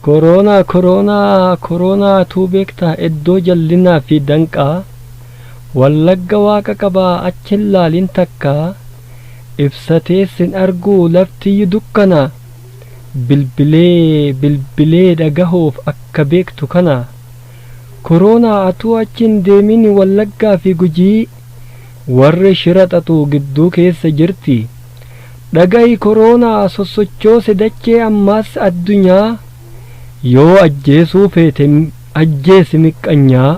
Koroonaa koroonaa koroonaatuu beektaa iddoo jallinaa fi danqaa wallagga waaqa qabaa achi hin laalin takkaa ibsatee sin arguu laftiyyu dukkana bilbilee bilbilee dhagahuuf akka beektu kana koroonaa atuu achi hin deemin wallaggaa fi gujii Warri shira xaxu gidduu keessa jirti. Dhaga'i koroonaa sossochoose dachee ammaas addunyaa Yoo ajjeesuu feete ajjeesi miqqanyaa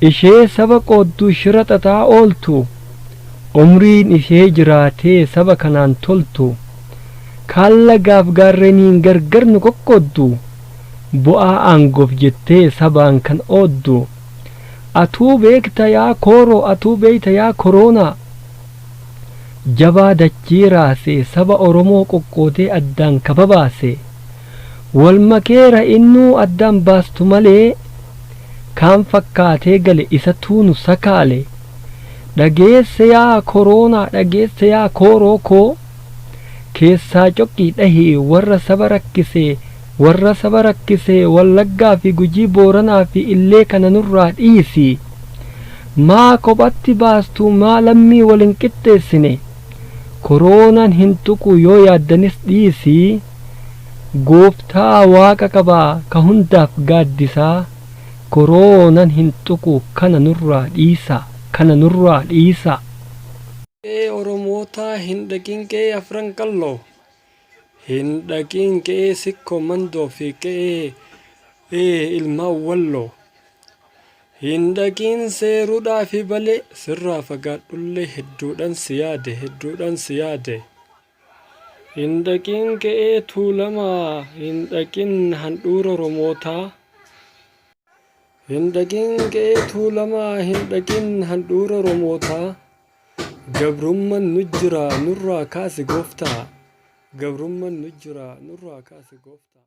Ishee saba qooddu shira xaxaa ooltu Umriin ishee jiraatee saba kanaan toltu Kaan lagaaf gaarreniin gargar nu qoqqooddu Bu'aa aangoof jettee sabaan kan ooddu Atuu beekta yaa kooroo atuu beeyta yaa koroonaa Jabaa dachii raasee saba oromoo qoqqoodee addaan ka babaase Wal makeera innuu addaan baastu malee Kaan fakkaatee gale isatuu nu sakaale Dhageesse yaa koroonaa dhageesse yaa kooroo koo Keessaa coqii dhahii warra saba rakkisee Warra saba rakkise Wallaggaa fi Gujii Booranaa fi Illee kana nurraa dhiisi. Maa kophatti baastuu maa lammii wal hin qixxeessine. Koroonan hin tuqu yoo yaaddanis dhiisi. Gooftaa waaqa qaba ka hundaaf gaaddisa. Koroonan hin tuqu kana nurraa dhiisa. Kana nurraa dhiisa. Qe'ee Oromootaa hin dhaqin qe'ee Afran Qalloo. Hin dhaqiin qe'ee sikkoo mandoo fi qe'ee ilmaan walloo. Hin dhaqiin seerudhaa fi balee sirraa fagaadhullee hedduudhan si yaade hedduudhan si yaade. Hin dhaqiin qe'ee tuulamaa hin dhaqiin handhuura romootaa. Hin dhaqiin qe'ee tuulamaa hin dhaqiin handhuura romootaa. Gabrumman nujjira nurraa kaasi goftaa Gabrumman nujjira nurraa kaasi goftaa.